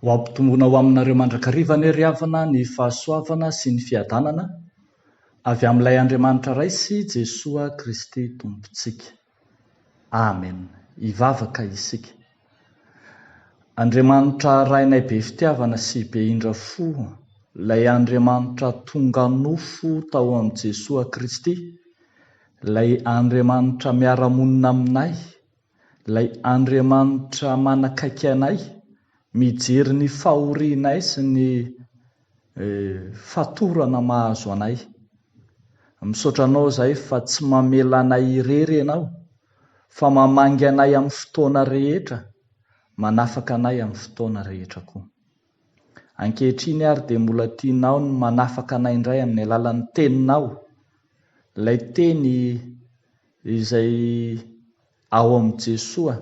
Ho ampitombona ho aminareo mandrakariva anie ry havana ny fahasoavana sy ny fiadanana avy amin'ilay Andriamanitra Ray sy Jesoa Kristy Tompontsika. Amen. Hivavaka isika. Andriamanitra Rainay be fitiavana sy be indra fo, ilay Andriamanitra tonga nofo tao amin'i Jesoa Kristy, ilay Andriamanitra miara-monina aminay, Ilay Andriamanitra manakaiky anay, mijery ny fahorianay sy ny fatorana mahazo anay. Misaotra Anao izahay fa tsy mamela anay irery Ianao, fa mamangy anay amin'ny fotoana rehetra, manafaka anay amin'ny fotoana rehetra koa. Ankehitriny ary dia mbola tianao ny manafaka anay indray amin'ny alalan'ny Teninao, ilay Teny izay ao amin'i Jesoa.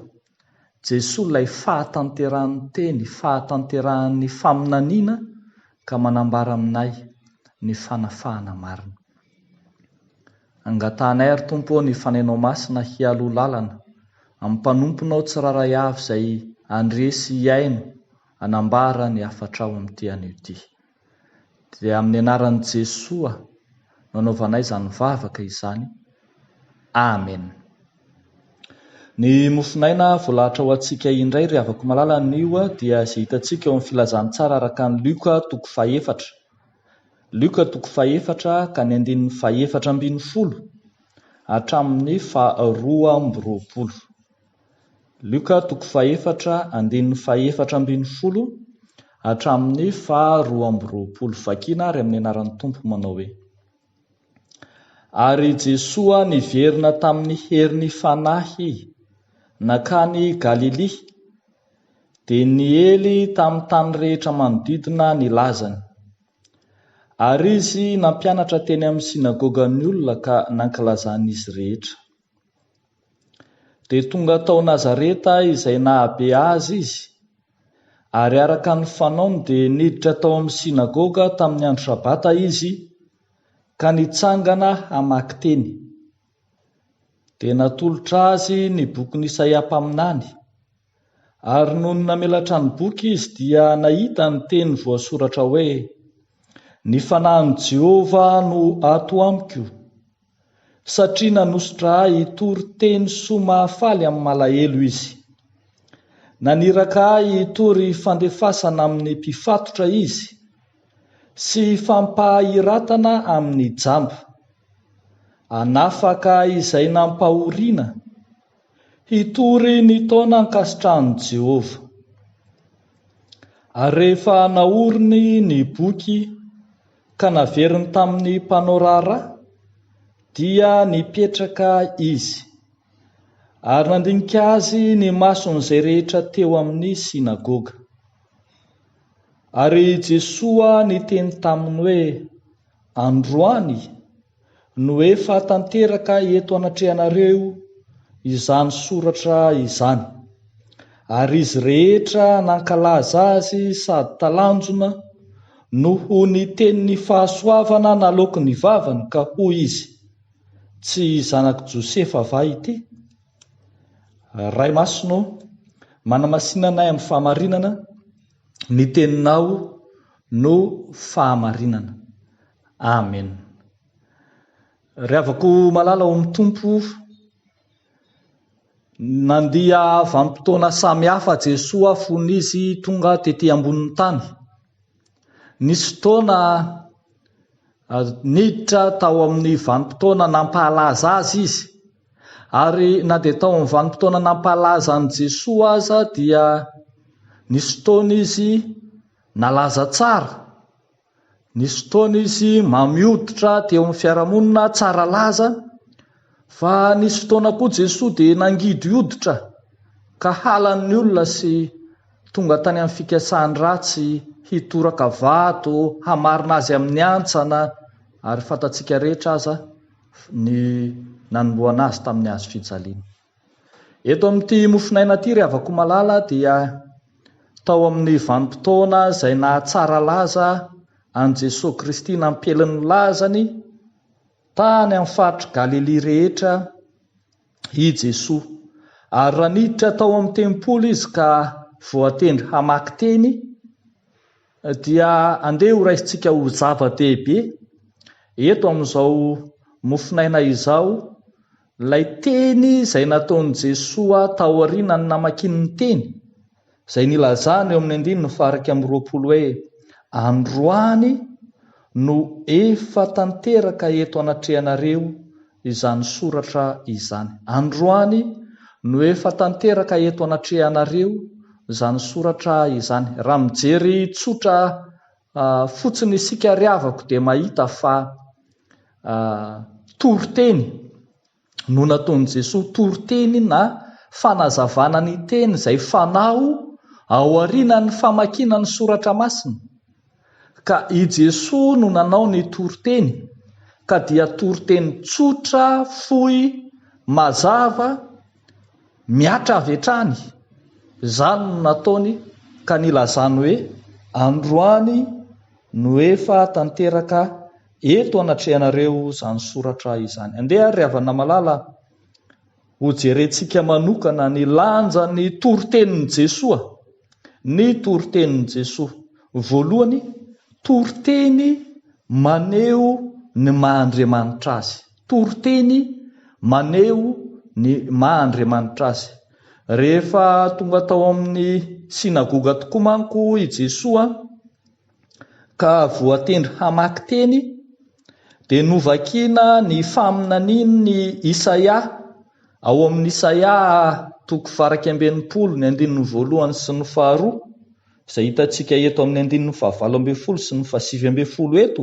Jesoa ilay fahatanterahan'ny Teny, fahatanterahan'ny faminaniana ka manambara aminay ny fanafahana marina. Angatahanay ary Tompo ô ny Fanahinao Masina hialoha lalana amin'ny mpanomponao tsirairay avy izay handresy hihaino hanambara ny hafatrao amin'ity anio ity. Dia amin'ny anaran'i Jesoa no anaovanay izany vavaka izany. Amen. Ny mofon'aina voalahatra ho antsika indray ry havako malala anio dia izay hitantsika eo amin'ny filazantsara araka an'i Luc toko fahefatra. Luc toko fahefatra ka ny andininy fahefatra ambin'ny folo hatramin'ny faharoa amby roapolo. Lioka toko fahefatra andininy fahefatra ambin'ny folo hatramin'ny faha roa amby roapolo Vakina ary amin'ny anaran'ny Tompo manao hoe, Ary Jesoa niverina tamin'ny herin'ny Fanahy nankany Galilia, dia niely tamin'ny tany rehetra manodidina ny lazany. Ary Izy nampianatra teny amin'ny synagogan'ny olona ka nankilazan'izy rehetra. Dia tonga tao Nazareta izay nahabe azy izy, ary araka ny fanaony dia niditra tao amin'ny synagoga tamin'ny andro sabata izy ka nitsangana hamaky teny. Dia natolotra azy ny bokin'i Isaia mpaminany. Ary nony namelatra ny boky izy dia nahita ny teny voasoratra hoe, Ny fanahin'i Jehovah no ato amiko, satria nanosotra ahy hitory teny soa mahafaly amin'ny malahelo izy. Naniraka ahy hitory fandefasana amin'ny mpifatotra izy sy fampahiratana amin'ny jamba. Hanafaka izay nampahoriana Hitory ny taona ankasitrahan'i Jehovah. Ary rehefa naoriny ny boky ka naveriny tamin'ny mpanao raharaha, dia nipetraka izy, ary nandinika azy ny mason'izay rehetra teo amin'ny synagoga. Ary Jesoa niteny taminy hoe, Androany, no efa tanteraka eto anatrehanareo izany soratra izany, ary izy rehetra nankalaza azy sady talanjona noho ny tenin'ny fahasoavana naloaky ny vavany ka hoy izy, Tsy zanak'i Josefa va ity? Ray Masina ô, manamasina anay amin'ny fahamarinana, ny teninao no fahamarinana. Amen. Ry havako malala ao amin'ny Tompo, nandia vanim-potoana samy hafa Jesoa fony izy tonga tety ambonin'ny tany. Nisy fotoana ah, niditra tao amin'ny vanim-potoana nampahalaza azy izy. Ary na dia tao amin'ny vanim-potoana nampahalaza an'i Jesoa aza dia nisy fotoana izy nalaza tsara. Nisy fotoana izy mamy hoditra teo amin'ny fiarahamonina tsara laza, fa nisy fotoana koa Jesoa dia nangidy hoditra ka halan'ny olona sy tonga tany amin'ny fikasany ratsy hitoraka vato hamarina Azy amin'ny hantsana ary fantatsika rehetra aza ny nanomboana Azy tamin'ny hazofijaliana. Eto amin'ity mofonaina ity ry havako malala dia tao amin'ny vanim-potoana izay nahatsara laza an'i Jesoa Kristy nampielyn'ny lazany tany amin'ny faritr'i Galilia rehetra i Jesoa ary raha niditra tao amin'ny tempoly izy ka voatendry hamaky teny dia andeha ho raisintsika ho zava-dehibe eto amin'izao mofonaina izao Ilay teny izay nataon'i Jesoa taorianan'ny namakiany ny teny izay nilazany eo amin'ny andininy faha-iraika amby roapolo hoe, Androany no efa tanteraka eto anatrehanareo izany soratra izany. Androany no efa tanteraka eto anatrehanareo izany soratra izany. Raha mijery tsotra fotsiny isika ry havako dia mahita fa. A, Toriteny no nataon'i Jesoa, toriteny na fanazavana ny teny izay fanao ao aorianan'ny famakiana ny Soratra Masina. Ka i Jesoa no nanao ny toriteny, ka dia toriteny tsotra, fohy, mazava, mihatra avy hatrany, izany no nataony ka nilazany hoe, Androany no efa tanteraka Eto anatrehanareo izany soratra izany. Andeha ary ry havana malala a! hojerentsika manokana ny lanjan'ny toritenin'i Jesoa. Ny toritenin'i Jesoa. Voalohany, toriteny maneho ny maha Andriamanitra Azy. Toriteny maneho ny maha Andriamanitra Azy. Rehefa tonga tao amin'ny synagoga tokoa manko i Jesoa, ka voatendry hamaky teny, dia novakina ny faminanian' i Isaia ao amin' ny Isaia toko varaika amby enimpolo, ny andininy voalohany sy ny faharoa, izay hitantsika eto amin' ny andininy fahavalo ambin'ny folo sy ny fahasivy ambin'ny folo eto.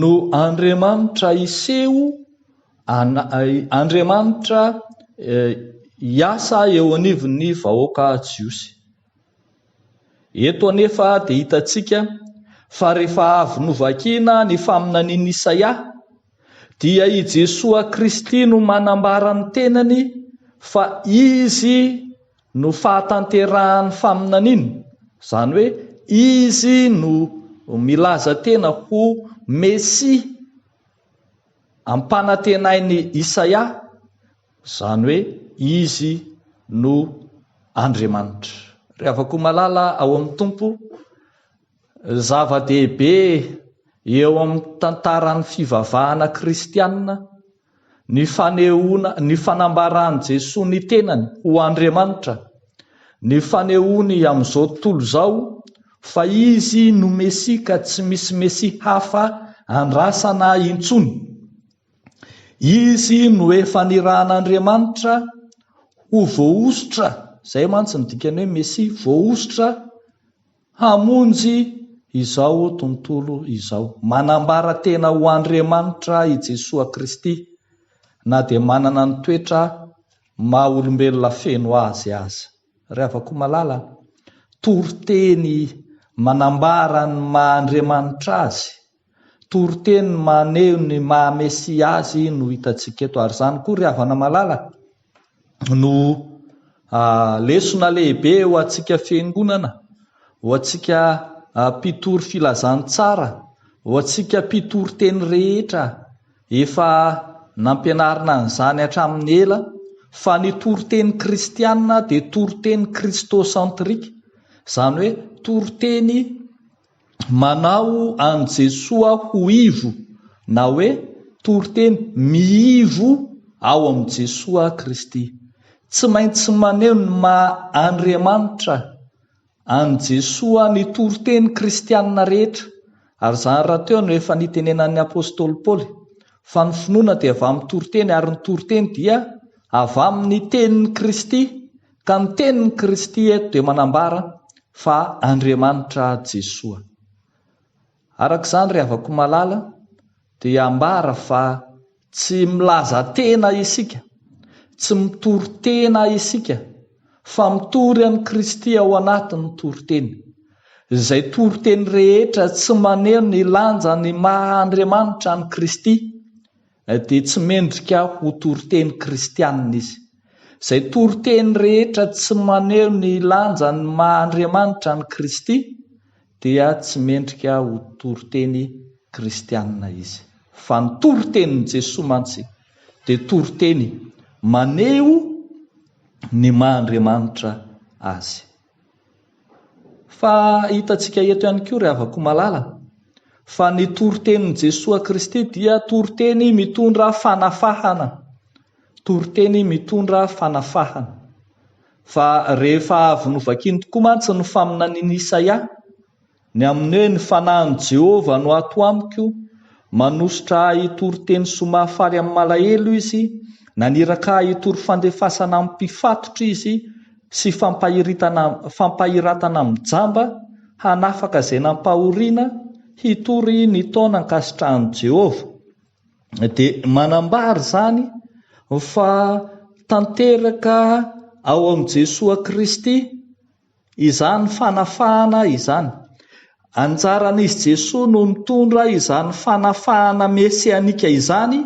No Andriamanitra hiseho Andriamanitra hiasa eo anivon'ny vahoaka jiosy. Eto anefa dia hitantsika fa rehefa avy novakina ny faminanian'i Isaia dia i Jesoa Kristy no manambara ny tenany fa Izy No fahatanterahan'ny faminaniana, izany hoe Izy no milaza tena ho Mesia ampanantenain'i Isaia, izany hoe Izy no Andriamanitra. Ry havako malala ao amin'ny Tompo, zava-dehibe eo amin'ny tantaran'ny fivavahana kristiana ny fanehoana ny fanambaran'i Jesoa ny tenany ho Andriamanitra, ny fanehoany amin'izao tontolo izao fa Izy no Mesia ka tsy misy Mesia hafa andrasana intsony. Izy no efa nirahan'Andriamanitra ho voahosotra, izay mantsy ny dikan'ny hoe Mesia, voahosotra, Hamonjy izao tontolo izao. Manambara tena ho Andriamanitra i Jesoa Kristy, na dia manana ny toetra maha olombelona feno azy aza. Ry havako malala an! Toriteny manambara ny maha Andriamanitra azy. Toriteny maneho ny maha Mesia Azy no hitantsika eto, ary izany koa, ry havana malala, no lesona lehibe ho antsika Fiangonana, ho antsika mpitory filazantsara, ho antsika mpitoriteny rehetra. Efa nampianarina an'izany hatramin'ny ela fa ny toriteny kristiana dia toriteny kristosentrika, izany hoe toriteny Manao an'i Jesoa ho ivo na hoe toriteny miivo ao amin'i Jesoa Kristy. Tsy maintsy maneho ny maha Andriamanitra an'i Jesoa ny toriteny kristiana rehetra, ary izany rahateo no efa nitenenan'ny apostoly Paoly, fa ny finoana dia avy amin'ny toriteny ary ny toriteny dia avy amin'ny tenin'i Kristy. Ka ny tenin'i Kristy eto dia manambara fa Andriamanitra Jesoa. Araka izany ry havako malala dia ambara fa tsy milaza tena isika, tsy mitory tena isika fa mitory an'i Kristy ao anatin'ny toriteny. Izay toriteny rehetra tsy maneho ny lanjan'ny maha Andriamanitra an'i Kristy dia tsy mendrika ho toriteny kristianina izy. Izay toriteny rehetra tsy maneho ny lanjan'ny maha Andriamanitra an'i Kristy dia tsy mendrika ho toriteny kristianina izy. Fa ny toritenin'i Jesoa mantsy dia toriteny maneho ny maha Andriamanitra Azy. Fa hitantsika eto ihany koa ry havako malala fa ny toritenin'i Jesoa Kristy dia toriteny mitondra fanafahana, toriteny mitondra fanafahana. Fa rehefa avy novakiany tokoa mantsy ny faminanian'i Isaia, Ny amin'ny hoe ny fanahin'i Jehovah no ato amiko, manosotra ahy hitory teny soa mahafaly amin'ny malahelo izy, naniraka ahy hitory fandefasana amin'ny mpifatotra izy sy fampahiritana fampahiratana amin'ny jamba, hanafaka izay nampahoriana, hitory ny taona ankasitrahan'i Jehovah. Dia manambara izany fa tanteraka ao amin'i Jesoa Kristy izany fanafahana izany. Anjaran'izy Jesoa no mitondra izany fanafahana mesianika izany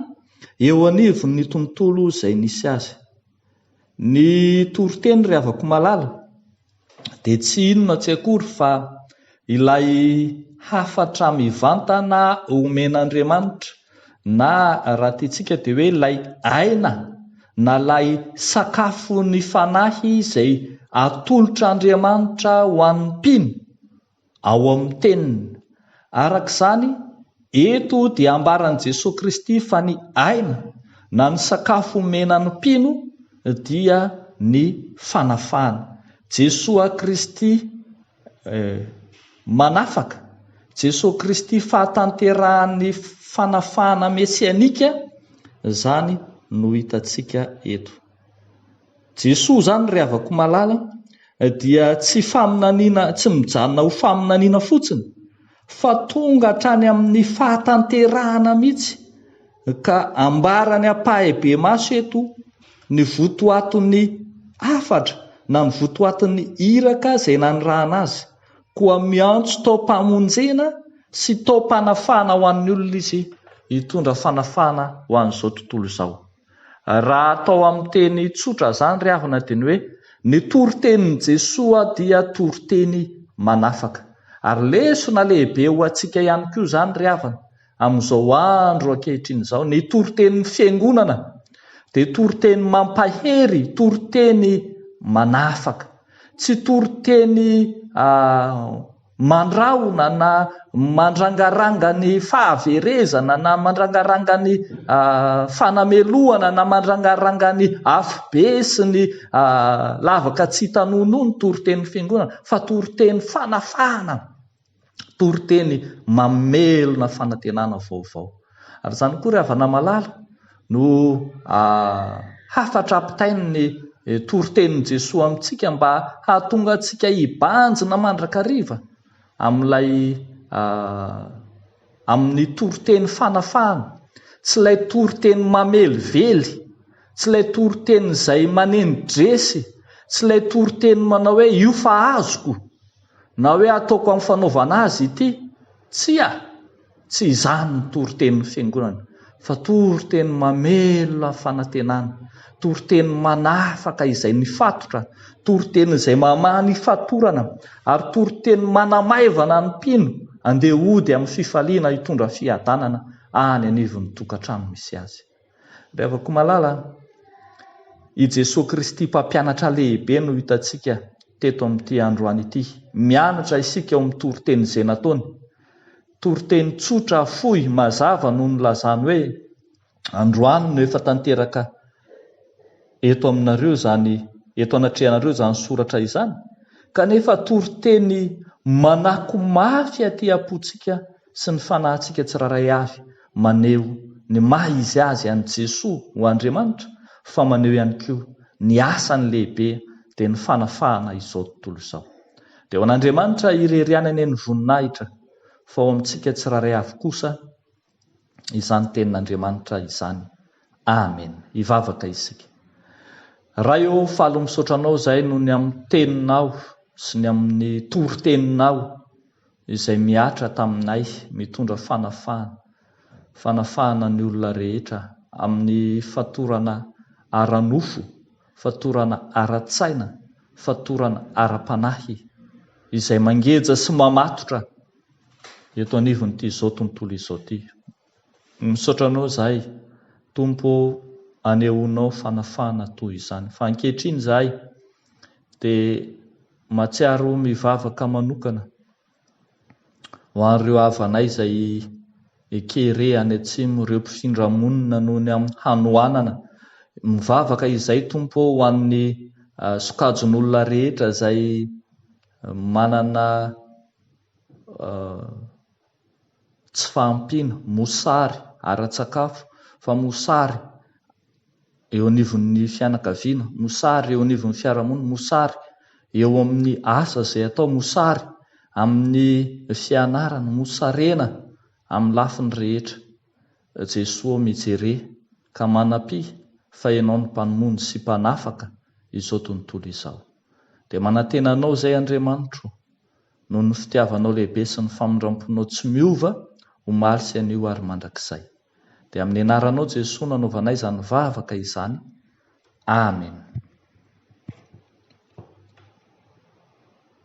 eo anivon'ny tontolo izay nisy azy. Ny toriteny ry havako malala dia tsy inona tsy akory fa ilay hafatra mivantana omen'Andriamanitra Na raha tiantsika dia hoe ilay aina na ilay sakafon'ny fanahy izay atolotr'Andriamanitra ho an'ny mpino ao amin'ny Teniny. Araka izany, eto dia ambaran'i Jesoa Kristy fa ny aina na ny sakafo omena ny mpino dia ny fanafahana. Jesoa Kristy Manafaka, Jesoa Kristy fahatanterahan'ny fanafahana mesianika izany no hitantsika eto. Jesoa izany ry havako malala dia tsy faminaniana, tsy mijanona ho faminaniana fotsiny, fa tonga hatrany amin'ny fahatanterahana mihitsy ka ambarany ampahibemaso eto ny votoaton'ny hafatra na ny votoaton'ny iraka izay nanirahana azy, koa miantso taom-pamonjena sy taom-panafahana ho an'ny olona izy hitondra fanafahana ho an'izao tontolo izao. Raha atao amin'ny teny tsotra izany ry havana dia ny hoe, ny toritenin'i Jesoa dia toriteny manafaka. Ary lesona lehibe ho antsika ihany koa izany ry havana, amin'izao andro ankehitriny izao. Ny toritenin'ny Fiangonana dia toriteny mampahery, toriteny manafaka. Tsy toriteny. mandrahona na mandrangaranga ny fahaverezana na mandrangaranga ny fanamelohana na mandrangaranga ny afobe sy ny lavaka tsy hitanonoa ny toritenin'ny Fiangonana fa toriteny fanafahana, toriteny mamelona fanantenana vaovao. Ary izany koa ry havana malala no hafatra ampitain'ny toritenin'i Jesoa amintsika mba hahatonga antsika hibanjina mandrakariva amin'ilay amin'ny toriteny fanafahana, tsy ilay toriteny mamelively, tsy ilay toriteny izay maneno dresy, tsy ilay toriteny manao hoe io fa azoko. Na hoe ataoko amin'ny fanaovana azy ity? Tsia! Tsy izany ny toritenin'ny Fiangonana, fa toriteny mamelona fanantenana, toriteny manafaka izay nifatotra, toriteny izay mamaha ny fatorana, ary toriteny manamaivana ny mpino handeha hody amin'ny fifaliana hitondra fiadanana any anivon'ny tokantrano misy azy. Ry havako malala a! I Jesoa Kristy Mpampianatra lehibe no hitantsika teto amin'ity androany ity. Mianatra isika ao amin'ny toriteny izay nataony. Toriteny tsotra, fohy, mazava no nilazany hoe, Androany no efa tanteraka eto aminareo izany, eto anatrehanareo izany soratra izany. Kanefa toriteny manako mafy aty am-pontsika sy ny fanahintsika tsirairay avy maneho ny maha izy azy an'i Jesoa ho Andriamanitra fa maneho ihany koa ny asany lehibe dia ny fanafahana izao tontolo izao. Dia ho an'Andriamanitra irery ihany anie ny voninahitra fa ho amintsika tsirairay avy kosa izany tenin'Andriamanitra izany. Amen. Hivavaka isika. Ray ô, faly misaotra Anao izahay noho ny amin'ny Teninao sy ny amin'ny toriteninao. izay mihatra taminay mitondra fanafahana, fanafahana ny olona rehetra amin'ny fatorana ara-nofo, fatorana ara-tsaina, fatorana ara-panahy, izay mangeja sy mamatotra eto anivon'ity izao tontolo izao ity. Misaotra anao zahay Tompo ô anehoanao fanafahana toy izany fa ankehitriny zahay dia matsiaro mivavaka manokana ho an'ireo havanay izay Ekere any atsimo ireo mpifindra monina noho ny amin'ny hanoanana mivavaka izay Tompo ô ho an'ny sokajin'olona rehetra izay manana tsy fahampiana, mosary ara-tsakafo, fa mosary eo anivon'ny fianakaviana, mosary eo anivon'ny fiarahamonina, mosary eo amin'ny asa izay atao, mosary amin'ny fianarana, mosarena amin'ny lafiny rehetra. Jesoa ô mijere ka manampia fa Ianao no Mpanomony sy Mpanafaka izao tontolo izao. Dia manantena Anao izay Andriamanitro. noho ny fitiavanao lehibe sy ny famindramponao tsy miova, omaly sy anio ary mandrakizay. Dia amin'ny anaranao Jesoa no anaovanay izany vavaka izany. Amen.